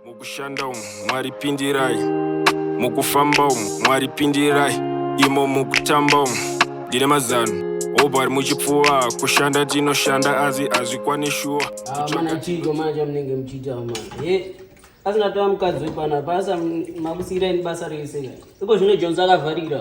Mukushanda umu Mwari pindirai, mukufamba umu Mwari pindirai, imo mukutamba umu ndine mazano hope ari muchipfuva kushanda tinoshanda asi hazvikwane shuwa mana chiiko manje amunenge muchiita manje ye asingatova mukadzi wepanapa asa makusiira ini basa rese iko zvino jonzi akavharira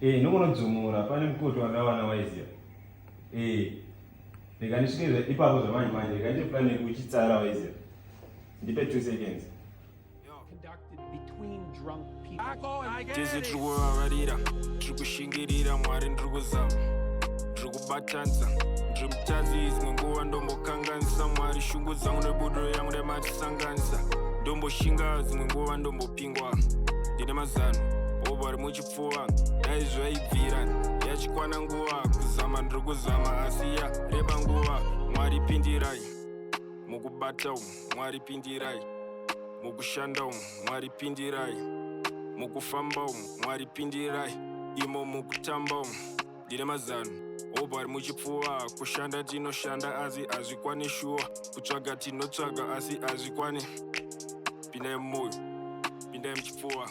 Eh, ndongonodzumura pane mukoto wandawana waiziva. Eh. Rega ndisvike ipapo zvamanje manje, rega ndiite plan yekuchitsara waiziva. Ndipe 2 seconds. Tese tiri kuvavarira, tiri kushingirira Mwari ndiri kuzama, ndiri kubatanza ndiri mutadzi dzimwe nguva ndombokanganisa Mwari shungu dzangu nebudo yangu nematisanganisa ndomboshinga dzimwe nguva ndombopingwa ndine mazano obari muchipo pfuva dai zvaibvira yachikwana nguva kuzama ndiri kuzama asi ya reba nguva mwari pindirai mukubata umu mwari pindirai mukushanda umu mwari pindirai mukufamba umu mwari pindirai imo mukutamba umu ndine mazano hope ari muchipfuva kushanda tinoshanda asi hazvikwane shuwa kutsvaga tinotsvaga asi hazvikwane pindai mumoyo pindai muchipfuva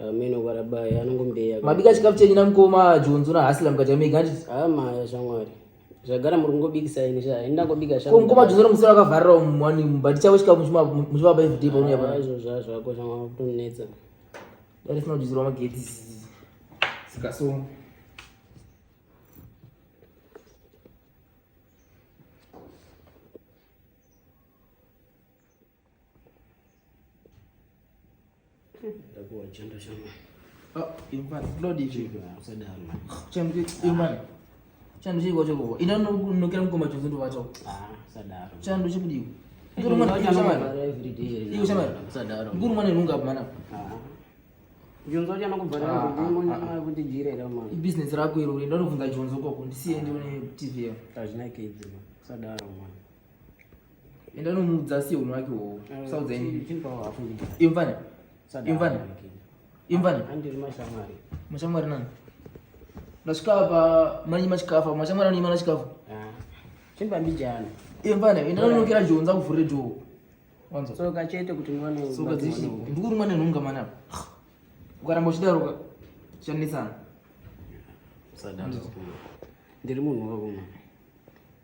Ameno kwarabaya anongombeya. Mabika chikafu chenyu na mkoma Jonzo na Haslam kati amega ati. Ah maya shamwari. Zvagara muri kungobikisa ini sha. Ini ndangobika sha. Mkoma Jonzo musoro akavharira umwani mubati chavo chikafu muchima muchima pa everyday paunoya pa. Izvo zvazvo ako shamwari kutonetsa. Dare sina kujizirwa magedhi. Sikasoma. chando chii kwacho koko ina nokera mukoma chose ndovacho chando chikudii mkuru mwana inunga apo mwana ibusiness rako iro uri ndanofunga jonzo koko ndisiye ndione tv yao enda unomuudza asiye unhu wake uwowo usaudza imvana imvana imvana mashamwari nani ndasvika apa manyi masvika apa mashamwari anonyima nasvika apa chimbambijana imvana enda unonokera joo nza kuvhurire joo wanzwa chete kuti ndikurumwa nenhunga mwana apa ukaramba uchidaroka chanetsana ndiri munhu wako mwana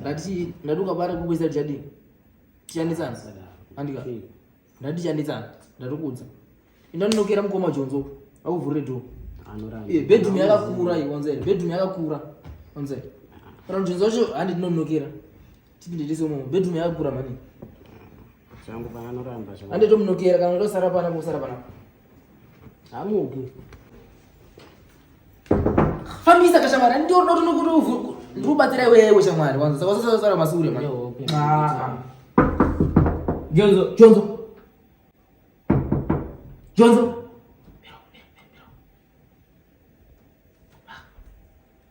ndati ndati ukabara kukuisa tichadii tichanditsana andika ndati tichanditsana ndati kuudza enda ndinokera mukoma jonzo akuvhurire do eh, bedroom yakakura iyi wanzere bedroom yakakura wanzere kana jonzo wacho handi ndinonokera tipinde tese umomo bedroom yakakura mani Zvangu paanoramba zvangu. Ande tomunokera kana ndosara pana kusara pana. Hamuki. Fambisa kashamara ndio ndo tunokuti ndikubatsira iwewe shamwari wanza saka sasa sara masure manje. Ah. Jonzo, Jonzo. Jonzo.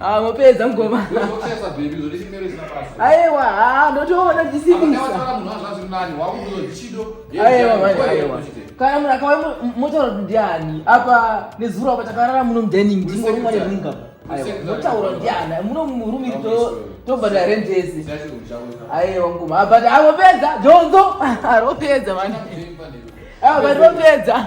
Ah, mopedza mugoma. Aiwa, ah, ndotoona zvisimisa. Aiwa, aiwa. Kana munhu akauya motaura kuti ndiani? Apa nezuro apa takarara muno mudining ndingori mwana munga. Aiwa, motaura ndiani? Muno murume to tobva na rent yese. Aiwa, mugoma. But avopedza, jonzo. Aropedza manje. Ah, but vopedza.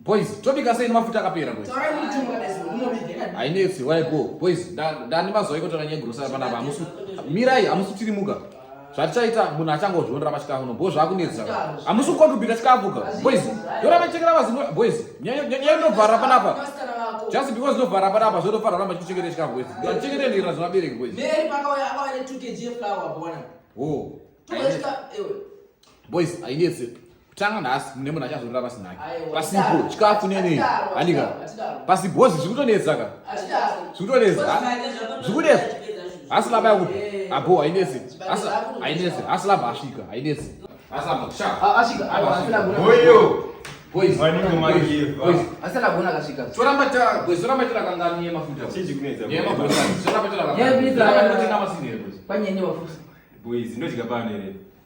boys tobika sei nemafuta akapera hainetsi waigo boys ndani mazuva ikotora nyegrosara panapa mirai hamusutirimuka zvatichaita munhu achangozvionera pachikafu no bhozva akunetsa hamusi kukontribita chikafu ka boys yoramba chekera vazi boys nyaya inovhara panapa just because inovhara panapa zvotofanira ramba chikuchengeta chikafu boys chengeta ndira zvemabereki boys boys hainetse kutanga nhasi mune munhu achazorora pasina ke pasipo chikafu nenei handika pasibhozi zviri kutonetsa ka zviri kutonetsa zviri kunetsa hasi laba yakuti abo hainetsi hainetsi hasi laba asvika hainetsi toramba tira kangani yemafuta yemafuta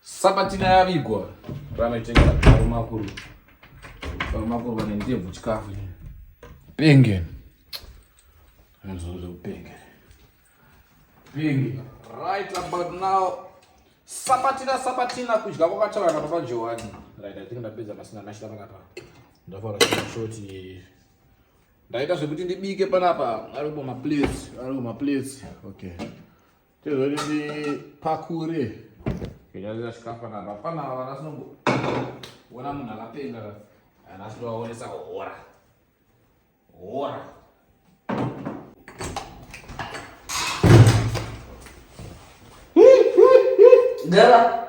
Sabatina yavigwa ramaitenga varumakuru varumakuru vane ndebvu chikafu penge anozonge kupenge penge right about now sabatina sabatina kudya kwakataura napapa johani right i think ndapedza pasina mashita panapa ndafaura shoti ndaita zvekuti ndibike panapa aripo maplates aripo maplates okay tezoti ndipakure kunyarira chikafu na vapana ava vana sinomboona munhu akapenga ana sinovaonesa hora hora Dela.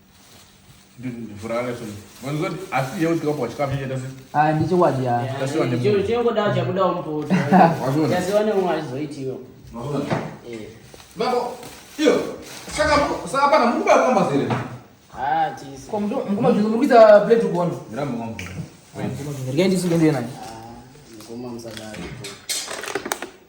Ndiye ndisuke ndiye naye.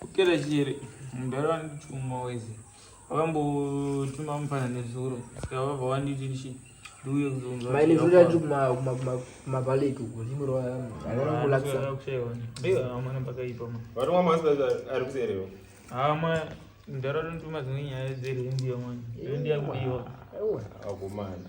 Kupera chiri mudhara vandichuma wese vakambotuma mufana nezuro saka vabva vanditi ndichi ndiuye kuzomabaleti uko zimurwaamana pakaipa varomwa masi ari kuserewa hama mudhara vanotuma dzimwe nyaya dzerhendiya mwana rendiya kudiwa akomana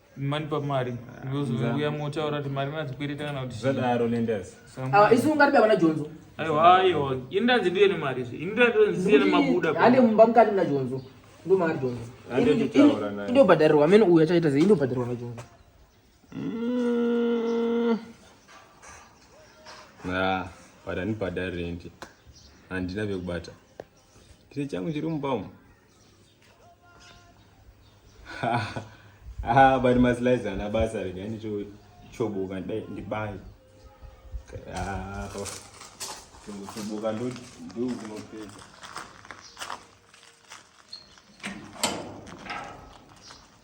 mani pamari uya motaura kuti mari madzikwereta kana kuti zvadaro lendas ah, isu ungati baba najonzo aiwa aiwa ini ndanzi ndiye nemari izvi ini ndanzi nemabuda hande mumba mukati mna jonzo ndo mari jonzo indobhadharirwa amene uyu achaita zve indobhadharirwa najonzo mm. ah, but anibhadhari rendi handina vekubata chiri changu chiri mumba umu ah but maslides ana basa rega ini cho chobuka ndai ndibai ah to chobuka ndo ndo kunopedza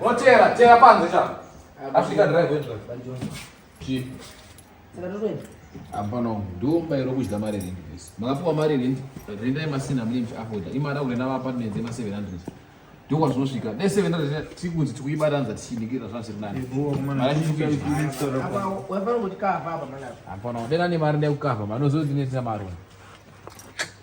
Wotera, tera panze cha. Africa drive wendra. Chi. Saka totoenda. Hapana ndumba iro kudya mari rent please. Makapiwa mari rent, rent yemasina mlim afoda. Imari aure na apartment yema 700. Ndokwa zvinosvika. Ne 700 tikunzi tikuibatanza tichinikira zvasiri nani. Mari tichikuita. Hapana, hapana. Dena ne mari nekukava, manozozi netsina mari.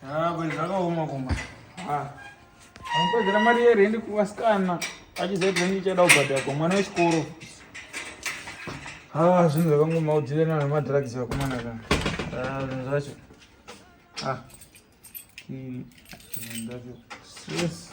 Ah, kweli zvakaoma kuma. Ah. Anopedzera mari yerendi kuvasikana achiziva kuti ndichada kubhadhara kwa mwana wechikoro. Ah, zvinhu zvakangoma udzirana nemadrugs vakomana kana. Ah, zvinhu zvacho. Ah. Zvinhu zvacho. Yes.